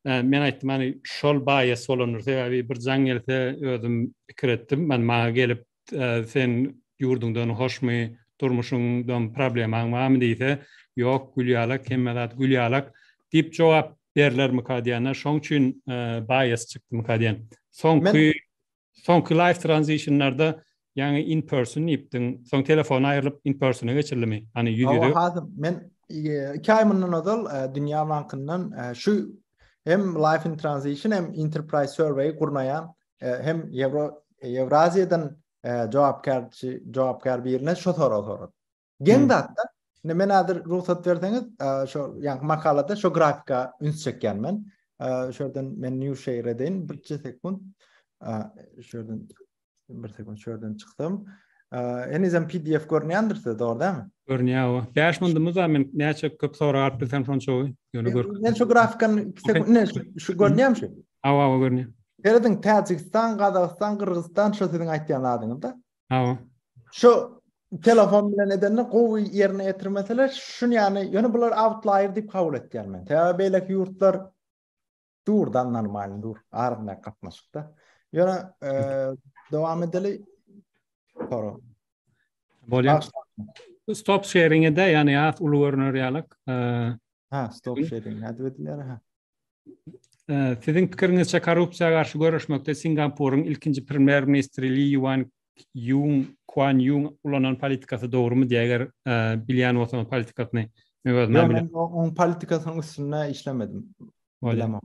men aýtdym hany şol baýas bolandyr sebäbi bir jaň gelse özüm pikir etdim men maňa gelip sen ýurduňdan hoşmy durmuşyňdan problemaň barmy diýse ýok gül ýalak hemme zat gül ýalak diýip jogap berlermika diýende şoň üçin baýas çykdymyka diýen soňky Soňky live transitionlarda ýaňy in person diýipdiň, soň telefon aýrylyp in persona geçirilimi? Hany ýüz ýüze. Hawa, men 2 aý mundan ozal e, Dünýä bankyndan e, şu hem live in transition hem enterprise survey gurnaýan e, hem Euro Ýewraziýadan jogapkärçi jogapkär birine şu sorag soradym. Geň zatda, indi men häzir rugsat berseňiz, şo ýa makalada şo grafika üns çekýän men. Şu ýerden men new share edin, bir sekund. Şu ýerden bir sekund şu ýerden çykdym. Henizem PDF görünýändir size, dogry dämi? Görünýär o. 5 mundumuz da men näçe köp sorag alyp bilsem şonça gowy. Ýöne gör. Men şu grafikany sekund ne şu görünýärmi şu? Awa, awa görünýär. Serediň Täjigistan, Gazagystan, Gyrgyzystan şu siziň aýtýan adyňyzda. Hawa. Şu telefon bilen edende gowy ýerine ýetirmeseler, şun ýany, ýöne bular outlier diýip kabul etýän men. Sebäbi beýleki ýurtlar durdan normal dur, arzyna gatnaşykda. Ýöne e, dowam edeli. Sora. Bolýar. Stop sharing-e de, ýani ýat uly görner ýalyk. E, ha, stop sharing nädip edilýär? Ha. Siziň pikiriňizçe korrupsiýa garşy göreşmekde Singapuryň ilkinji premýer ministri Li Ýuan Ýun Kuan Ýun ulanan politikasy dogrumy diýä eger bilýän bolsaňyz politikasyny men özüm bilýän. Men oň politikasynyň üstünde işlemedim. Bilemok.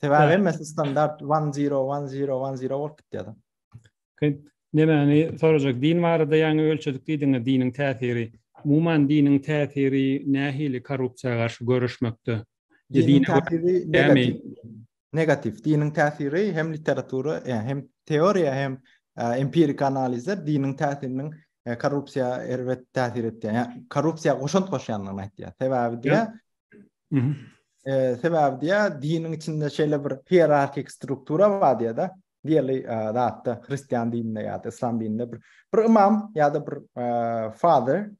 Sebäbi hemmesi standart 1-0-1-0-1-0 bolup gitýär. Nemäni sorajak? Din barada ýaňy ölçedik diýdiňiz, diniň täsiri. Umuman diniň täsiri nähili korrupsiýa garşy göreşmekde? Diniň täsiri negativ. Negativ. Diniň täsiri hem literatura, hem teoriýa, hem empirik analizde diniň täsiriniň korrupsiýa erbet täsir etýär. Ýa korrupsiýa goşant goşýandygyny aýtýar. Sebäbi diýär, Ee, sebäbi diýä, diniň içinde şeýle bir hierarhik struktura bar diýä-de, diýeli zatda hristian dininde ýa-da islam dininde bir bir imam ýa-da bir father,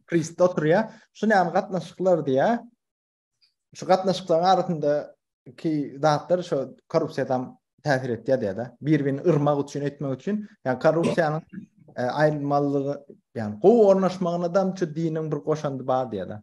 priest oturýar. Şu näme gatnaşyklar diýä. Şu gatnaşyklaryň arasynda ki zatlar şu korrupsiýadan täsir etýär diýä-de. Bir-birini yrmak üçin etmek üçin, ýa korrupsiýanyň aýrylmalygy, ýa gowy ornaşmagyna da şu diniň bir goşandy bar diýä-de.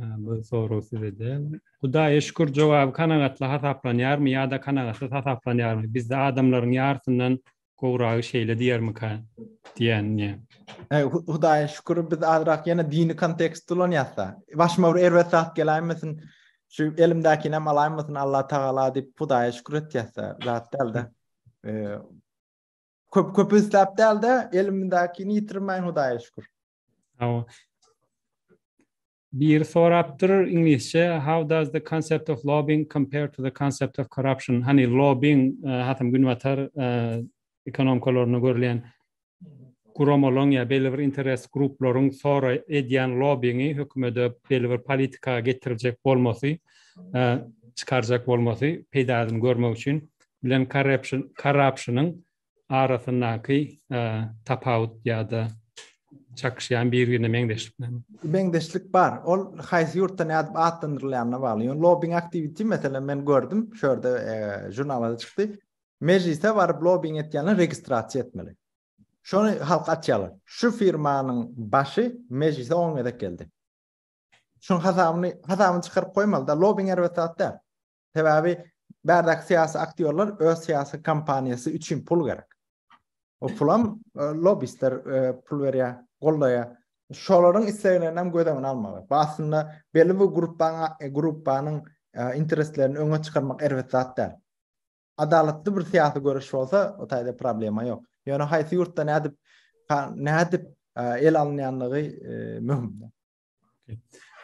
Bu soru size de. Hudaýa şükür jogaby kanagatly hasaplanýarmy ýa-da kanagatsyz hasaplanýarmy? Bizde adamlaryň ýarysyndan gowragy şeýle diýermika diýende. E, Hudaýa şükür biz azrak ýene dini kontekst ulanýarsa. Başyma bir erbet zat geläýmesin. Şu elimdäkini hem alaýmasyn Allah tagala diýip Hudaýa şükür etýärse, zat däldi. E, köp köp isläp däldi, elimdäkini ýitirmäýin Hudaýa şükür. Hawa. Bir sorapdyr iňlisçe how does the concept of lobbying compare to the concept of corruption? Hani lobbying e, hatam günbatar e, ekonomikalarynda görlen guramalaryň ya belli bir interes gruplaryň sora edýän lobbyingi hökümete belli bir politika getirjek bolmasy, e, çykarjak bolmasy peýdasyny görmek üçin bilen corruption corruptionyň arasyndaky tapawut ýa-da çakyşýan birine meňzeşlik näme? Meňzeşlik bar. Ol haýsy ýurtda nädip atlandyrylýanyna bagly. Ýöne lobbing aktiwiti meselem men gördüm, şu ýerde žurnalda çykdy. Mejlise baryp lobbing etýänler registrasiýa etmeli. Şony halka açýarlar. Şu firmanyň başy mejlise on gezek geldi. Şunuň hasabyny, hasabyny çykaryp goýmaly-da. Lobbing erbet zat däl. Sebäbi bärdäki syýasy aktýorlar öz syýasy kampaniýasy üçin pul gerek. O pulam e, lobbistler e, pul berýär, goldaýar. Şolaryň isleglerini hem göz öňüne almaly. Bu aslynda belli bir gruppanyň e, gruppanyň intereslerini öňe çykarmak erbet zat däl. Adalatly bir syýasy görüş bolsa, o taýda problema ýok. Ýöne haýsy ýurtda nädip nädip el alynýanlygy möhümdir.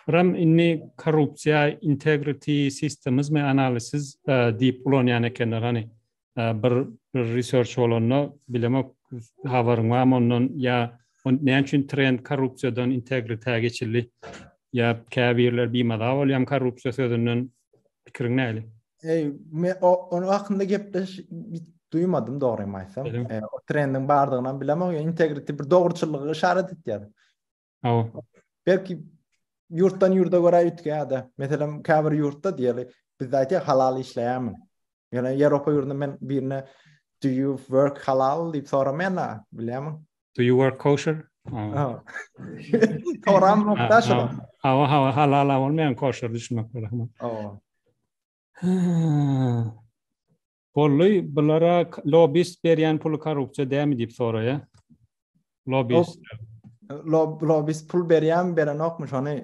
Ram inni korrupsiýa integrity systems me analysis e, diýip ulanýan ekenler hani e, bir bir research bolanda bilemok habaryň barmy ondan ýa näme üçin trend korrupsiýadan integritäge geçildi ýa käbirler bimaza bolýan korrupsiýa sözünden pikiriň näli Ey, me o onun hakkında gepleş duymadım doğruyu aýtsam. E, o trendin bardygyny bilemok. Integrity bir dogruçyllygy işaret etýär. Hawa. Belki ýurtdan ýurda görä üýtgäde. Meselem, käbir ýurtda diýeli, biz aýtýa halal işleýärmi? Ýöne Ýewropa ýurdunda men birine do you work halal diýip soramaýan-a, bilýärmi? Do you work kosher? Hawa. Soram nokta şu. Hawa, hawa, halal bolmaýan kosher düşünmek gerek. Hawa. Bolly bulara lobist berýän puly korrupsiýa dämi diýip soraýa. Lobist. Lob, lobist pul berýän berenokmy şony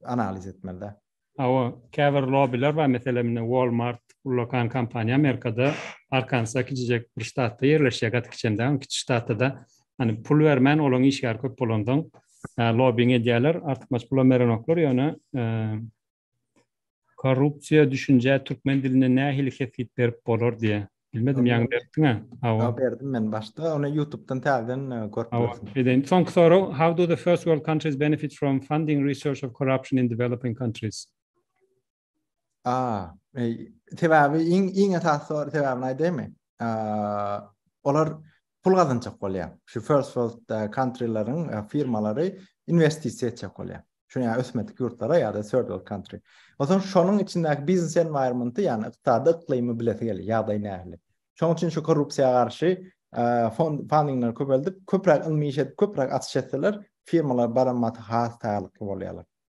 analiz etmeli. Awa, käbir lobiler bar, meselem, Walmart ullakan kompaniýa Amerikada, Arkansa kiçijek bir ştatda ýerleşýär, gaty kiçem däl, kiçi ştatda da hani pul bermän olaň işgäri köp bolandan lobbing edýärler, artykmaç pulam berenoklar, ýöne Korrupsiýa düşünjä türkmen dilinde nähili kesgit berip bolar diýýä. Bilmedim ýaňy beripdiňä. Hawa. Ýok berdim men başda ony ýutubdan täzeden görüp bilersiň. Edeýin. Soňky sorag How do the first world countries benefit from funding research of corruption in developing countries? A, sebäbi iň iň esasy sebäbini aýdaýmy? Olar pul gazanjak bolýar. Şu first world countryleriň firmalary inwestisiýa etjek bolýar. Şu ýa ösmedik ýurtlara ýa-da third world country. Onsoň şonuň içindäki biznes environment-y, ýagny ykdysady yklymy bilesi gelýär, ýagdaýy nähili. Şonuň üçin şu korrupsiýa garşy fond fundingleri köpeldip, köpräk ylmy iş edip, köpräk açyş etseler, firmalar baran maty has taýýarlykly bolýarlar.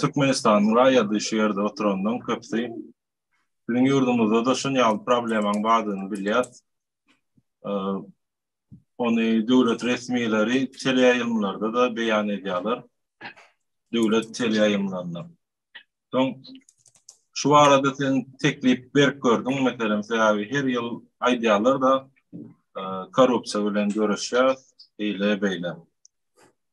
Türkmenistanyň raýady şu ýerde oturanlaryň köpüsi biziň ýurdumyzda-da şun ýaly problemanyň bardygyny bilýär. Ony döwlet resmileri teleýaýlymlarda-da beýan edýärler. Döwlet teleýaýlymlarynda. Soň şu barada sen teklip berip gördüň, meselem, sebäbi her ýyl aýdýarlar-da, korrupsiýa bilen göreşýär, eýle-beýle.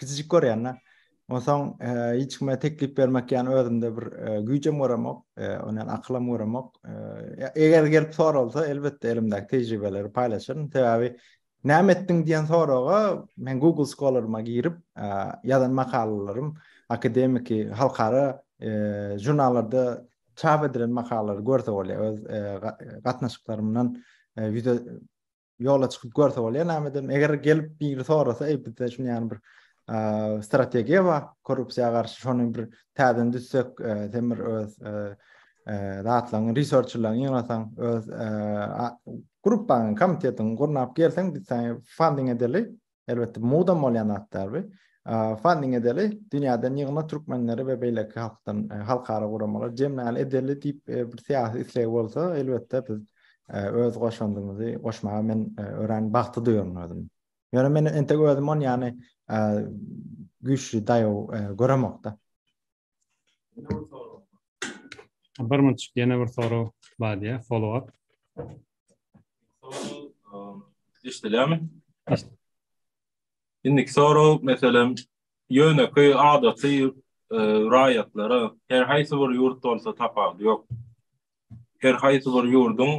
Kiçijik görýän-de. Onsoň e, hiç kime teklip bermek ýany özümde bir e, güýjem göremok, e, ondan akylam göremok. Eger gelip soralsa, elbetde elimdäki tejribeleri paýlaşaryn. Sebäbi näme etdiň diýen soraga men Google Scholar-yma girip, ýazan makalalarym akademiki halkara žurnallarda çap edilen makalalary görse bolýar. Öz gatnaşyklarymdan ýüze ýola çykyp görse bolýar näme edem eger gelip biri sorasa eý bizde şuny ýany bir strategiýa bar korrupsiýa garşy şony bir täzeden düzsek sen bir öz zatlaryň researçlaryň ýygnasaň öz gruppaň komitetiň gurnap gelseň biz seni funding edeli Elbetde mudam bolýan zatlar bu. Funding edeli, dünýäden ýygna türkmenleri we beýleki halkdan, e, halkara guramalar jemläli edeli diýip e, bir syýasy isleg bolsa, elbetde biz e, öz goşandymyzy goşmaga men örän bagtly duýaryn özüm. Ýöne men entek özüm on ýany güýçli daýaw göremokda. Bir minut, ýene bir sorag bar diýýär, follow up. Eşidilýärmi? Indiki sorag, meselem, ýönekeý adaty raýatlara her haýsy bir ýurt bolsa tapawudy ýok. Her haýsy bir ýurduň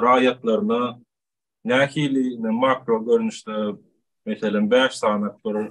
raýatlaryna nähili makro görnüşde, meselem, bäş sany bir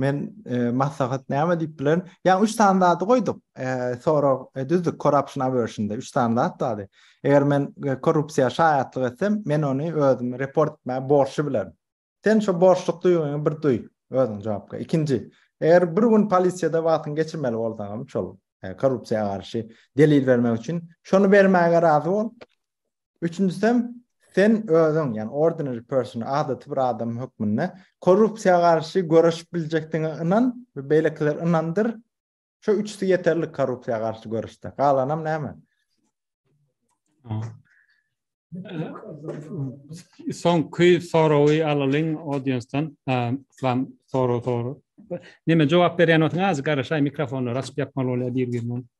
Men e, maslahat näme diýip bilerin? Ýa üç sany zady goýduk. E, sorag e, düzdük corruption aversionda üç sany zat bardy. Eger men e, korrupsiýa şaýatlyk etsem, men ony özüm report etmäge borçly bilerin. Sen şu borçluk duýgyňy bir duý özüň jogapka. Ikinji, eger bir gün polisiýada wagtyň geçirmeli bolsaňam, şol e, korrupsiýa garşy delil bermek üçin, şony bermäge razy bol. Üçünjisem, sen özüň, ýagny ordinary person, adaty bir adam hökmünde korrupsiýa garşy göreşip biljekdigiňe ynan we beýlekileri ynandyr. Şu üçüsi ýeterlik korrupsiýa garşy göreşde. Galanam näme? Soňky sorawy alalyň audiensdan. Islam soraw soru. Näme jogap berýän bolsaň, azy garaşaý mikrofonlary açyp ýapmaly bolýar bir-birine.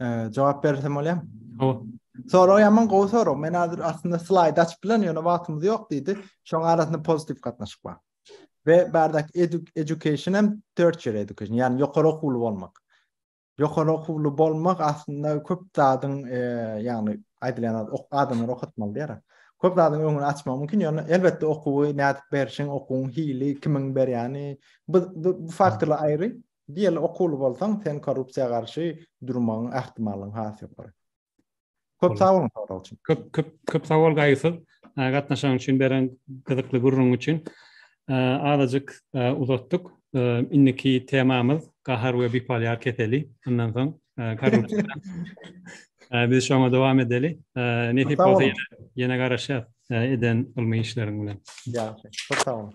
Ee, cevap verirsem olayım. Tamam. Soru yaman gowy soru. Men hazır aslında slide açıp bilen ýöne wagtymyz ýok diýdi. Şoň arasynda pozitif gatnaşyk bar. Ve bardak edu education hem tertiär education, Yani ýokary okuwly bolmak. Ýokary okuwly bolmak aslında köp zadyň e, ýagny aýdylýan ok adamlar okatmaly diýär. Köp zadyň öňüni açmak mümkin, ýöne elbetde okuwy nädip berişiň, okuwyň hili, kimiň berýäni, bu, bu, bu faktorlar aýry. Diýeli okuwly bolsaň sen korrupsiýa garşy durmagyň ähtimallygyň has ýokary. Köp sag boluň sorag üçin. Köp köp köp sag bol gaýgysyz gatnaşan üçin beren gyzykly gürrüň üçin. Azajyk uzatdyk. Indiki temamyz gahar we bipoliar keseli. Ondan soň korrupsiýa. Biz şoňa dowam edeli. Nesip bolsa ýene garaşýas eden ylmy işleriň bilen. Ýagşy. Köp sag boluň.